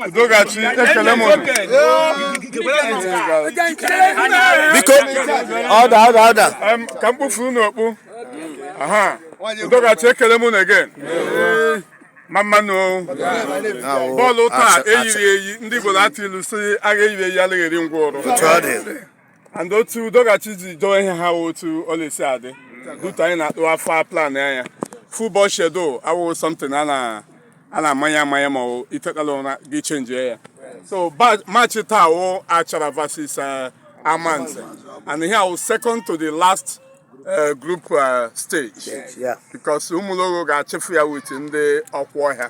Udogachi ekele m biko order order order ka m kpufuru unu okpu Udogachi ekele m unu again mmamma nụ bọọlụ taa eyiri eyi ndị Igbo na-atụ ilu sị agha eyiri eyi alaghị eri ngwụrọ and otu udogachi ji dowe ihe ha otu ọ la-esi adị due to anyị na-atụ afọ plan anya football schedule awụghị something a na a na-amanye amanye ma ọ i tekala ụra gị chenjie ya so match taa wụ achara versus eh, amanze and ihe a wụ second to the last eh, group eh, stage because Ụmụlogho ga-achịfu ya with ndị Okwuọhịa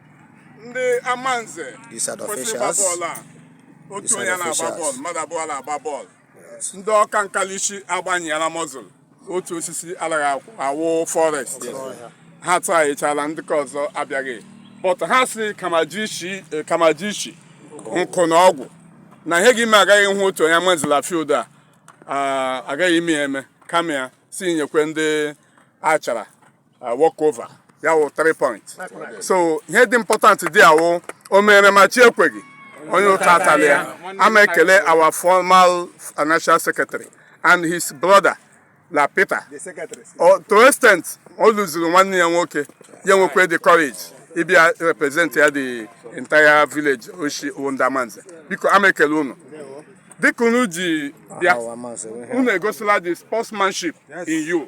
ndị amanze kwesịrị ịgba bọọlụ a otu onye na-agba bọọlụ mmadụ abụọ na-agba bọọlụ ndị ọka nkalishi agbanyela muscle otu osisi alaghị akwụ- awụ forest ha tụgharịchala ndị ka ọzọ abịaghị but ha sị kama ji shi eh, kama ji shi nkụ na-agwụ na ihe ga-ime agaghị hụ otu onye Amanze la field a ah, agaghị ime ya eme kama ya sị nyekwe ndị achara uh, walk over ya wụ 3 point so ihe dị important dị a wụ o mere ma chi ekweghị onye ụta atala ya ama ekele our former financial secretary and his brother la Peter O- to extent o luziri nwanne ya nwoke ya nwekwe the courage ịbịa represent ya the entire village o shi wụ ndị Amanze biko ama ekele unu dịka unu ji bịa unu egosila the sportsmanship in you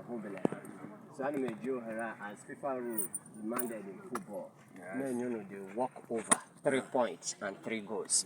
obere ha so ana m eji ohere a as FIFA rule demanded in football na-enye unu the walk over three points and three goals